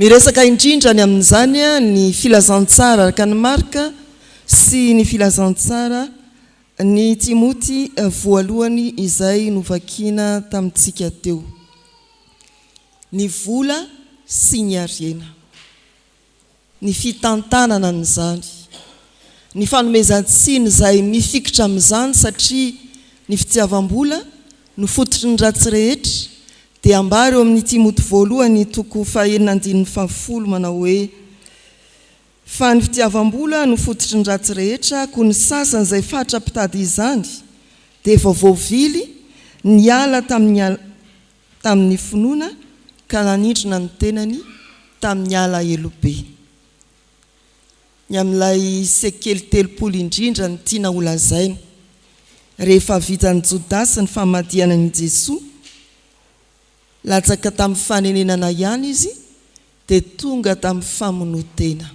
Miresaka indrindra any amin'izany ny filazantsara araka an'i Marka sy ny filazantsara an'i Timoty voalohany izay novakina tamintsika teo. Ny vola sy ny harena. ny fitantanana an'izany, ny fanomezan-tsiny izay mifikitra amin'izany satria ny fitiavam-bola no fototry ny ratsy rehetra dia ambara eo amin'i Timoty voalohany toko fahenina andininy fahafolo manao hoe Fa ny fitiavam-bola no fototry ny ratsy rehetra koa ny sasany izay fatra mpitady izany dia efa voavily niala tamin'ny tamin'ny finoana ka nanindrona ny tenany tamin'ny alahelo be. Ny amin'ilay sekely telopolo indrindra no tiana holazaina. Rehefa vitan'i Jodasy ny famadihana an'i Jesoa, latsaka tamin'ny fanenenana ihany izy dia tonga tamin'ny famonoan-tena.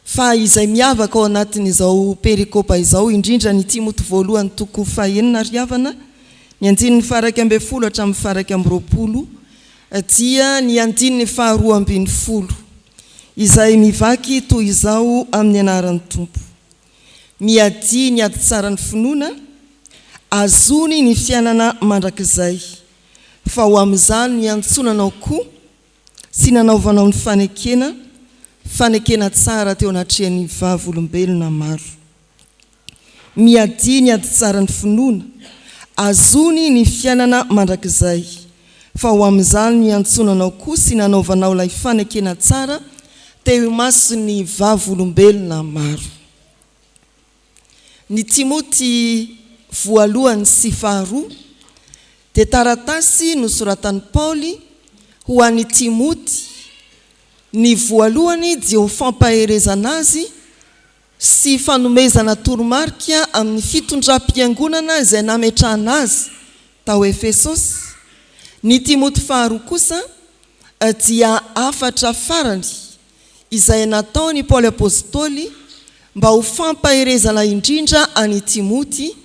Fa izay miavaka ao anatin'izao perikopa izao, indrindra ny Timoty voalohany toko fahenina ary havana, ny andininy faharaika ambin'ny folo hatramin'ny faharaika amby roapolo, dia ny andininy faharoa ambin'ny folo, izay mivaky toy izao amin'ny anaran'ny Tompo, Miadia ny ady tsaran'ny finoana, azony ny fiainana mandrakizay. fa ho amin'izany niantsonanao koa sy nanaovanao ny fanekena, fanekena tsara teo anatrehan'ny Vavolombelona maro. Miadia ny ady tsara ny finoana azony ny fiainana mandrakizay, fa ho amin'izany niantsonanao koa sy nanaovanao ilay fanekena tsara teo imason'ny Vavolombelona maro. Ny Timoty voalohany sy faharoa dia taratasy nosoratan'i Paoly ho an'i Timoty, ny voalohany dia ho fampaherezana azy sy fanomezana toromarika amin'ny fitondram-piangonana izay nametrahana azy tao Efesosy, ny Timoty faharoa kosa dia hafatra farany izay nataon' i Paoly Apôstôly mba ho fampaherezana indrindra an' i Timoty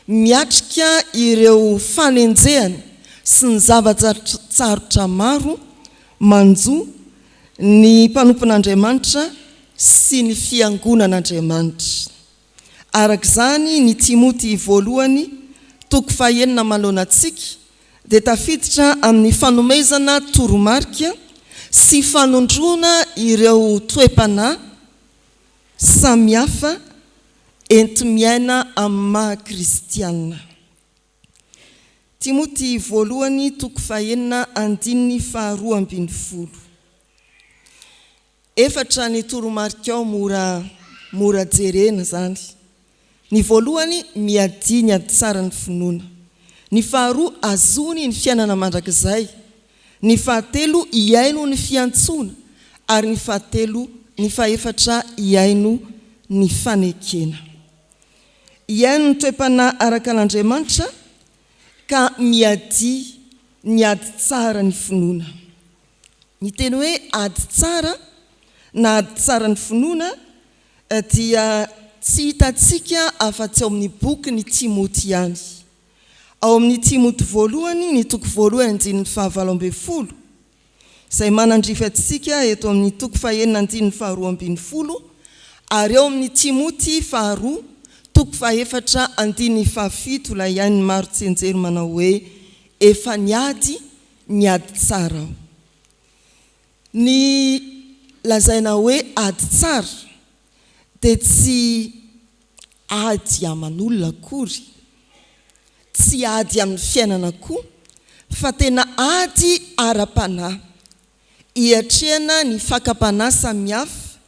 miatrika ireo fanenjehana sy ny zava-tsarotra maro manjo ny mpanompon' Andriamanitra sy ny fiangonan' Andriamanitra. Araka izany, ny Timoty voalohany, toko fahenina manoloana antsika, dia tafiditra amin'ny fanomezana toromarika sy fanondroana ireo toe-panahy samihafa enti-miaina amin'ny maha kristiana. Timoty voalohany, toko fahenina, andininy faharoa ambin'ny folo. Efatra ny toromarikao mora mora jerena izany. Ny voalohany, miadia ny ady tsara ny finoana. Ny faharoa, azony ny fiainana mandrakizay. Ny fahatelo, hihaino ny fiantsoana. Ary ny fahatelo, ny fahefatra, hihaino ny fanekena. Hihaino ny toe-panahy araka an'Andriamanitra ka miadia ny ady tsara ny finoana. Ny teny hoe ady tsara na ady tsaran'ny finoana dia tsy hitantsika afa-tsy ao amin'ny bokin'i Timoty ihany. Ao amin'ny Timoty voalohany ny toko voalohany andininy fahavalo ambin'ny folo, izay manandrify antsika eto amin'ny toko fahenina andininy faharoa ambin'ny folo, ary ao amin'ny Timoty faharoa toko fahefatra andininy fahafito ilay ain'ny maro tsianjery manao hoe efa niady ny ady tsara ao. Ny lazaina hoe ady tsara dia tsy ady aman'olona akory, tsy ady amin'ny fiainana koa fa tena ady ara-panahy, iatrehana ny fakam-panahy samihafa,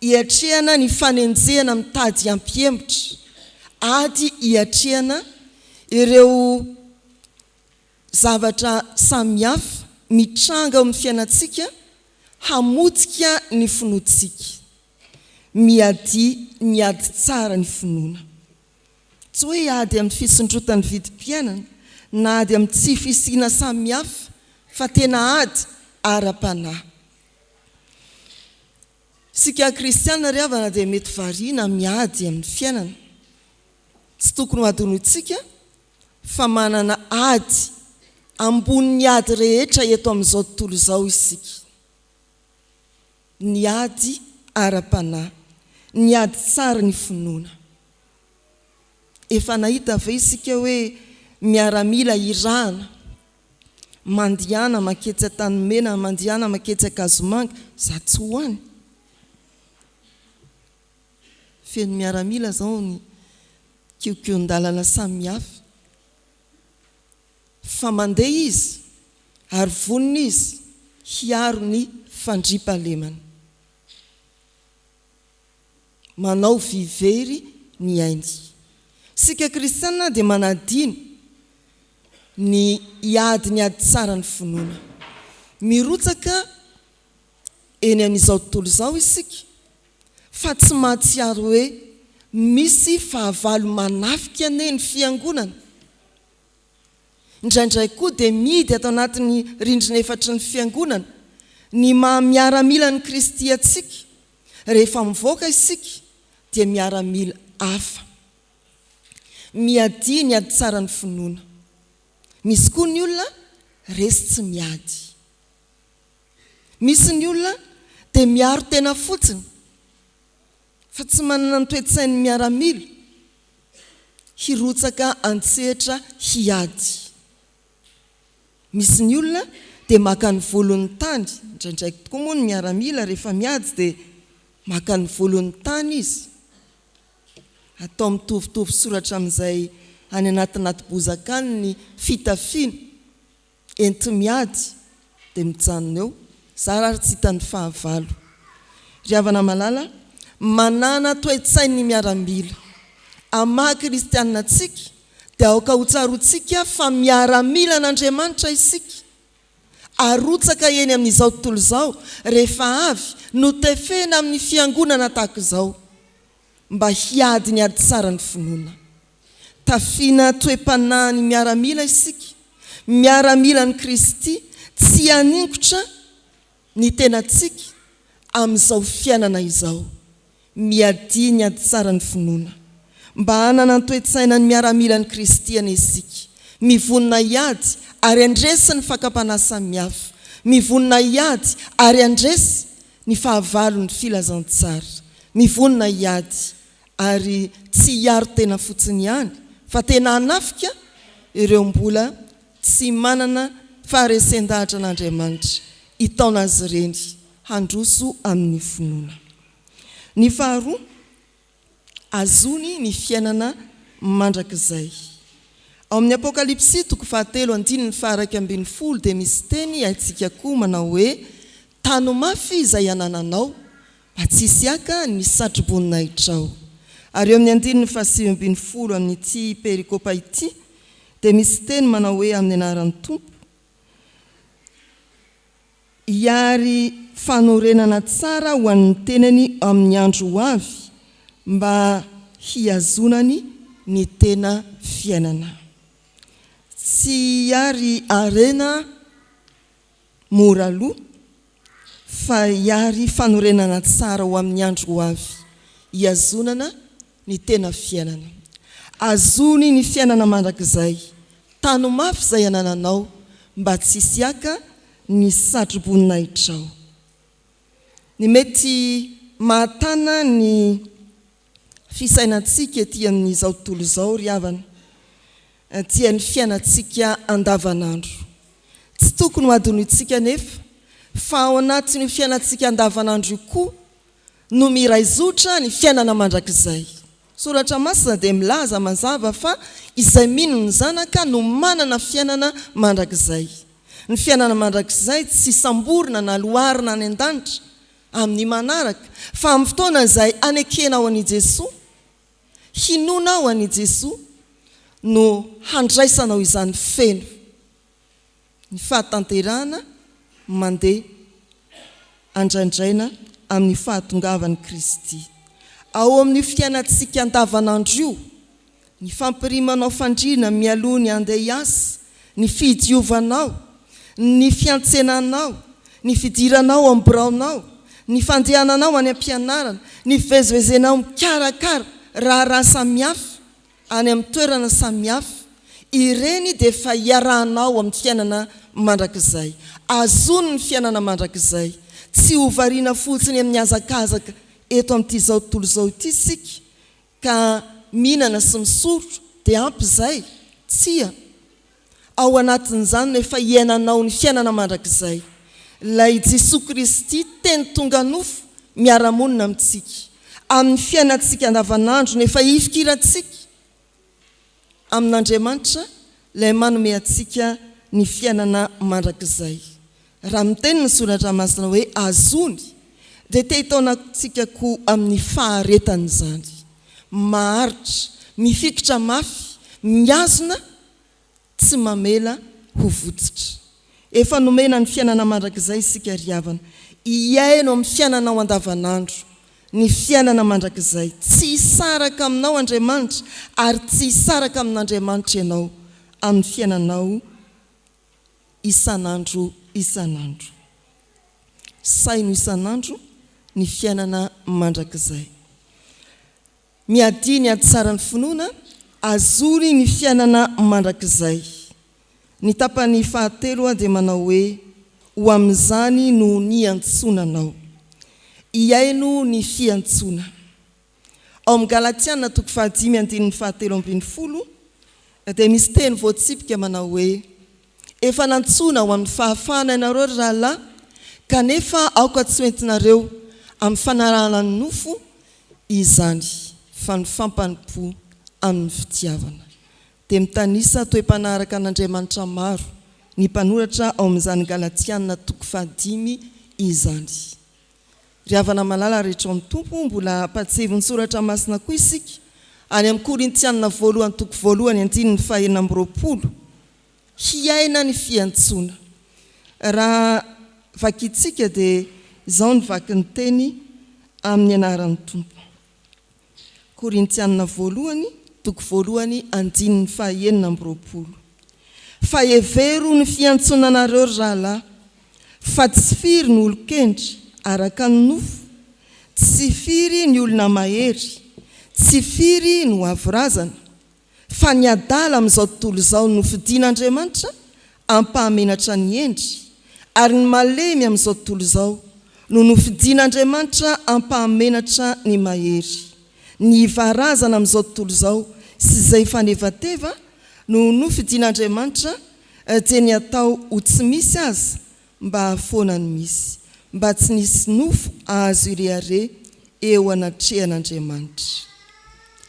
iatrehana ny fanenjehana mitady hampihemotra, ady iatrehana ireo. Zavatra samihafa mitranga ao amin'ny fiainantsika hamotika ny finoantsika. Miadia ny ady tsara ny finoana. Tsy hoe ady amin'ny fisondrotan'ny vidim-piainana na ady amin'ny tsy fisiana samihafa fa tena ady ara-panahy. Isika kristiana ry havana dia mety variana miady amin'ny fiainana. Tsy tokony ho adinointsika fa manana ady ambonin'ny ady rehetra eto amin'izao tontolo izao isika, ny ady ara-panahy, ny ady tsara ny finoana. Efa nahita ve isika hoe miaramila irahana mandihana maketsy Antanimena, mandihana maketsy Ankazomanga, za tsy ho any? Feno miaramila zao ny kiokion-dalana samihafa fa mandeha izy ary vonona izy hiaro ny fandriampahalemana. Manao vy very ny ainy. Isika kristiana dia manadino ny hiady ny ady tsara ny finoana. Mirotsaka eny amin'izao tontolo izao isika fa tsy mahatsiaro hoe misy fahavalo manafika anie ny Fiangonana. Indraindray koa dia mihidy ato anatin'ny rindrina efatry ny Fiangonana ny maha miaramilan'i Kristy antsika, rehefa mivoaka isika dia miaramila hafa. Miadia ny ady tsara ny finoana. Misy koa ny olona resy tsy miady. Misy ny olona dia miaro tena fotsiny fa tsy manana ny toe-tsain'ny miaramila, hirotsaka an-tsehatra hiady. Misy ny olona dia maka ny volon'ny tany, indraindraiky tokoa moa ny miaramila rehefa miady dia maka ny volon'ny tany izy, atao mitovitovy soratra amin'izay any anatinaty bozaka any ny fitafiana. Enti-miady dia mijanona eo. Za ary tsy hitan'ny fahavalo. Ry havana malala, manana toe-tsain'ny miaramila. Amin'ny maha kristianina antsika dia aoka hotsaroantsika fa miaramila an'Andriamanitra isika. Arotsaka eny amin'izao tontolo izao rehefa avy notefena amin'ny fiangonana tahaka izao mba hiady ny ady tsara ny finoana. Tafiana toe-panahin'ny miaramila isika, miaramilan'i Kristy, tsy haninkotra ny tenantsika amin'izao fiainana izao. Miadia ny haditsaran'ny finoana. Mba hanana ny toe-tsainan'ny miaramilan'i Kristy anie isika, mivonona hiady ary handresy ny fakam-panahy samihafa, mivonona hiady ary handresy ny fahavalon'ny filazantsara, mivonona hiady ary tsy hiaro tena fotsiny ihany fa tena hanafika ireo mbola tsy manana faharesen-dahatra an'Andriamanitra hitaona azy ireny handroso amin'ny finoana. Ny faharoa, azony ny fiainana mandrakizay. Ao amin'ny Apokalypsy toko fahatelo andininy faharaika ambin'ny folo dia misy teny haintsika koa manao hoe, Tano mafy izay anananao, Atsisiaka ny satrobonin'ahitrao. Ary eo amin'ny andininy fahasivy ambin'ny folo amin'ity perikopa ity dia misy teny manao hoe amin'ny anaran'ny Tompo, hiary fanorenana tsara ho an'ny tenany amin'ny andro ho avy mba hihazonany ny tena fiainana. Tsy hiary harena. Mora lo, fa hiary fanorenana tsara ho amin'ny andro ho avy, hihazonana ny tena fiainana. Azony ny fiainana mandrakizay. Tano mafy izay anananao mba tsy hisy haka ny satro-boninahitrao. Ny mety mahatana ny fisainantsika ety amin'izao tontolo izao ry havana dia ny fiainantsika andavanandro. Tsy tokony hohadinointsika anefa fa ao anatin'io fiainantsika andavanandro io koa no miraizotra ny fiainana mandrakizay. Ny Soratra Masina dia milaza mazava fa izay mino ny Zanaka no manana fiainana mandrakizay. Ny fiainana mandrakizay tsy samborina na loarana any an-danitra amin'ny manaraka, fa amin'ny fotoana izay hanekenao an'i Jesoa, hinoanao an'i Jesoa, no handraisanao izany feno. Ny fahatanterahana mandeha andrandraina amin'ny fahatongavan'i Kristy. Ao amin'io fiainantsika andavanandro io, ny fampirimanao fandriana mialoha ny handeha hiasa, ny fidiovanao, ny fiantsenanao, ny fidiranao ao amin'ny biraonao, ny fandehananao any am-pianarana, ny fivezivezenao mikarakara raharaha samihafa any amin'ny toerana samihafa, ireny dia efa iarahanao amin'ny fiainana mandrakizay. Azony ny fiainana mandrakizay. Tsy ho variana fotsiny amin'ny hazakazaka eto amin'ity izao tontolo izao ity isika, Ka mihinana sy misotro dia ampy izay? Tsia. Ao anatin'izany no efa iainanao ny fiainana mandrakizay. Ilay Jesoa Kristy teny tonga nofo miara-monina amintsika amin'ny fiainantsika andavanandro no efa ifikirantsika. amin'Andriamanitra Ilay manome antsika ny fiainana mandrakizay. Raha miteny ny Soratra Masina hoe azony, dia te hitaona antsika koa amin'ny faharetany izany. Maharitra, mifikitra mafy, mihazona, tsy mamela ho votsitra. Efa nomena ny fiainana mandrakizay isika ry havana, hiaino amin'ny fiainanao andavanandro. Ny fiainana mandrakizay. Tsy hisaraka aminao Andriamanitra ary tsy hisaraka amin'Andriamanitra ianao amin'ny fiainanao isan'andro isan'andro. Saino isan'andro ny fiainana mandrakizay. Miadia ny hatsaran'ny finoana azony ny fiainana mandrakizay. Ny tapany fahatelo dia manao hoe, Ho amin'izany no niantsoana anao. Hihaino ny fiantsoana. Ao amin'ny Galatiana toko fahadimy andininy fahatelo ambin'ny folo dia misy teny voatsipika manao hoe, Efa nantsoina ho amin'ny fahafahana ianareo, ry rahalahy, kanefa aoka tsy ho entinareo amin'ny fanarahana ny nofo izany, fa ny fampanimpò amin'ny fitiavana. Dia mitanisa toe-panaraka an'Andriamanitra maro ny mpanoratra ao amin'izany Galatiana toko fahadimy izany. Ry havana malala rehetra ao amin'ny Tompo, mbola ampahatsiahy ny soratra masina koa isika, any amin'ny Korintiana voalohany toko voalohany andininy fahenina amby roapolo, hiaina ny fiantsoana. Raha vakintsika dia izao ny vakin'ny teny amin'ny anaran'ny Tompo. Korintiana voalohany, toko voalohany, andininy fahaenina amby roapolo. Fa hevero ny fiantsonanareo, ry rahalahy, fa tsy firy ny olon-kendry araka ny nofo, tsy firy ny olona mahery, tsy firy ny ho avo razana, fa ny adala amin'izao tontolo izao no fidin'Andriamanitra hampahamenatra ny hendry, ary ny malemy amin'izao tontolo izao no nofidin'Andriamanitra hampahamenatra ny mahery. Ny hivarazana amin'izao tontolo izao sy izay fanevateva no nofidin'Andriamanitra dia ny atao ho tsy misy aza Mba foana no misy, mba tsy nisy nofo azo ireare eo anatrehan'Andriamanitra.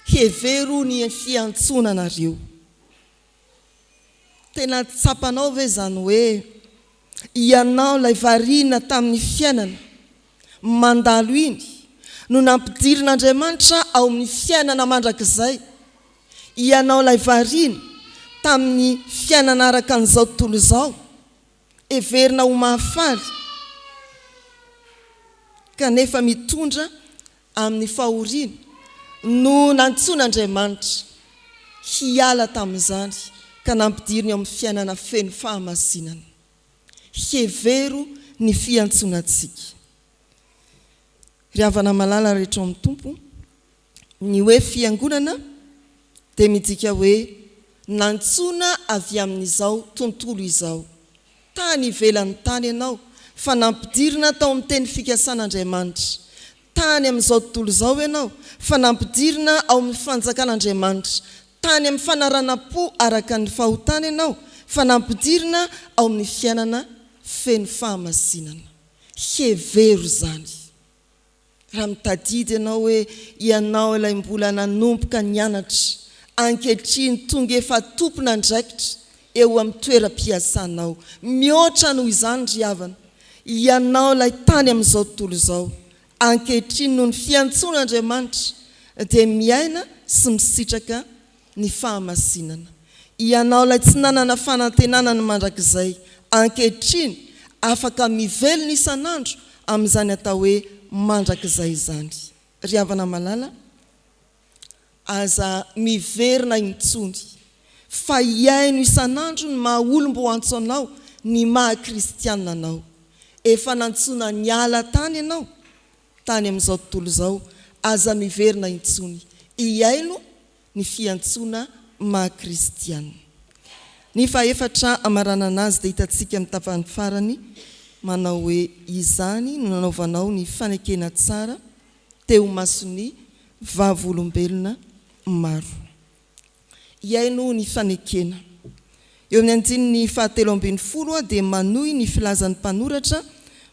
Hevero ny fiantsoana anareo. Tena tsapanao ve izany hoe ianao ilay variana tamin'ny fiainana mandalo iny no nampidirin'Andriamanitra ao amin'ny fiainana mandrakizay? Ianao ilay variana tamin'ny fiainana araka an'izao tontolo izao? heverina ho mahafaly kanefa mitondra amin'ny fahoriana no nantsoin'Andriamanitra hiala tamin'izany ka nampidiriny ao amin'ny fiainana feno fahamasinana. Hevero ny fiantsonantsika. Ry havana malala rehetra ao amin'ny Tompo, Ny hoe fiangonana dia midika hoe nantsoina avy amin'izao tontolo izao. Tany ivelan'ny tany ianao fa nampidirina tao amin'ny teny fikasan'Andriamanitra. Tany amin'izao tontolo izao ianao fa nampidirina ao amin'ny fanjakan'Andriamanitra. Tany amin'ny fanaranam-po araka ny fahotana ianao fa nampidirina ao amin'ny fiainana feno fahamasinana. Hevero izany. Raha mitadidy ianao hoe ianao ilay mbola nanomboka nianatra, ankehitriny tonga efa tompon'andraikitra eo amin'ny toeram-piasanao, mihoatra noho izany ry havana, ianao ilay tany amin'izao tontolo izao, ankehitriny noho ny fiantsoan'Andriamanitra dia miaina sy misitraka ny fahamasinana. Ianao ilay tsy nanana fanantenana ny mandrakizay, ankehitriny afaka mivelona isan'andro amin'izany atao hoe mandrakizay izany. Ry havana malala, aza miverina intsony, fa hihaino isan'andro ny maha olom-bo antso anao, ny maha kristiana anao. Efa nantsoina niala tany ianao. tany amin'izao tontolo izao, aza miverina intsony hihaino ny fiantsoana maha kristiana. Ny fahefatra amaranana azy dia hitantsika amin'ny tapany farany manao hoe, Izany no nanaovanao ny fanekena tsara teo mason'ny vavolombelona maro. Hihaino ny fanekena. Eo amin'ny andininy fahatelo ambin'ny folo dia manohy ny filazan'ny mpanoratra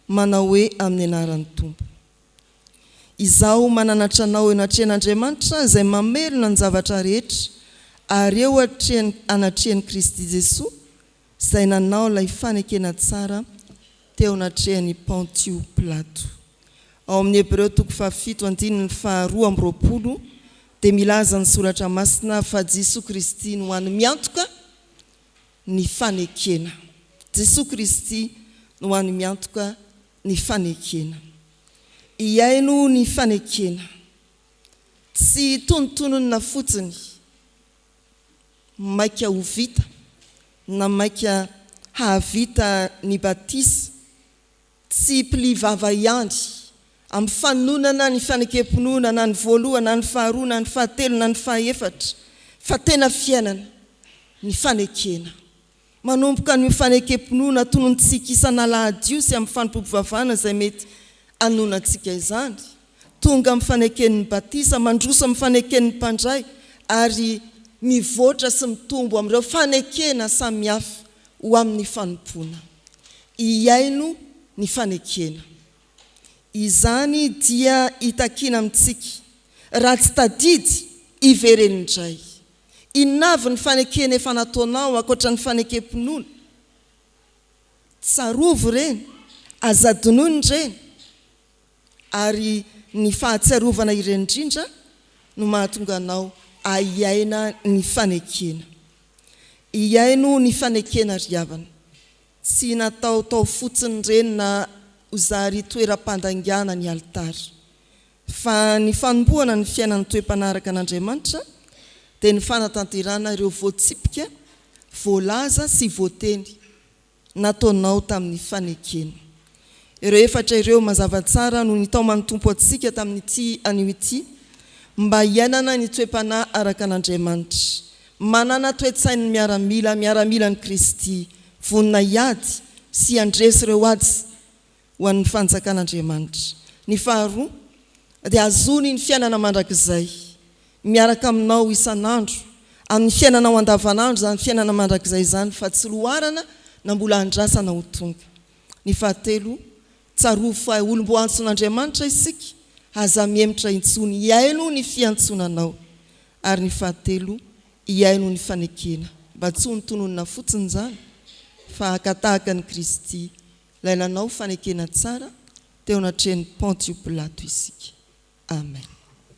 manao hoe amin'ny anaran'ny Tompo. Izaho mananatra anao eo anatrehan'Andriamanitra izay mamelona ny zavatra rehetra ary eo anatrehan'i Kristy Jesoa izay nanao ilay fanekena tsara teo anatrehan'i Pontio Pilato. Ao amin'ny Hebreo toko fahafito andininy faharoa amby roapolo dia milaza ny Soratra Masina fa Jesoa Kristy no hany miantoka ny fanekena. Jesoa Kristy no hany miantoka ny fanekena. Hihaino ny fanekena. Tsy tonontonona fotsiny. maika ho vita na maika hahavita ny batisa, tsy pli vava ihany amin'ny fanonana ny fanekem-pinoana na ny voalohany na ny faharoa na ny fahatelo na ny fahaefatra fa tena fiainana ny fanekena. Manomboka an'io fanekem-pinoana tonontsika isan'alahady io sy amin'ny fanompoam-pivavahana izay mety hanoana antsika izany, tonga amin'ny faneken'ny batisa, mandroso amin'ny faneken'ny mpandray, ary mivoatra sy mitombo amin'ireo fanekena samihafa ho amin'ny fanompoana. Hihaino ny fanekena. Izany dia hitakiana amintsika, raha tsy tadidy, hiverena indray. Inona avy ny fanekena efa nataonao ankoatra ny fanekem-pinoana? Tsarovy ireny, aza adinoina ireny, ary ny fahatsiarovana ireny indrindra no mahatonga anao ahiaina ny fanekena. Ihaino ny fanekena ry havana, tsy natao tao fotsiny ireny na ho zary toeram-pandangana ny alitara. Fa ny fanombohana ny fiainan'ny toe-mpanaraka an'Andriamanitra dia ny fanatanterahana ireo voatsipika, voalaza sy voateny nataonao tamin'ny fanekena. Ireo efatra ireo mazava tsara no nitaoman'ny Tompo antsika tamin'ity anio ity mba hiainana ny toe-panahy araka an'Andriamanitra, manana toe-tsain'ny miaramila, miaramilan'i Kristy, vonona hiady sy handresy ireo ady ho an'ny Fanjakan'Andriamanitra. Ny faharoa, dia hahazoany ny fiainana mandrakizay. Miaraka aminao isan'andro, amin'ny fiainanao andavanandro izany fiainana mandrakizay izany fa tsy loharana na mbola andrasana ho tonga. Ny fahatelo, tsarovy fa olom-boahantson'Andriamanitra isika, aza mihemotra intsony hihaino ny fiantsonanao. Ary ny fahatelo, hihaino ny fanekena, mba tsy ho nitononina fotsiny izany, fa haka tahaka an'i Kristy Ilay nanao fanekena tsara teo anatrehan'i Pontio Pilato isika. Amen.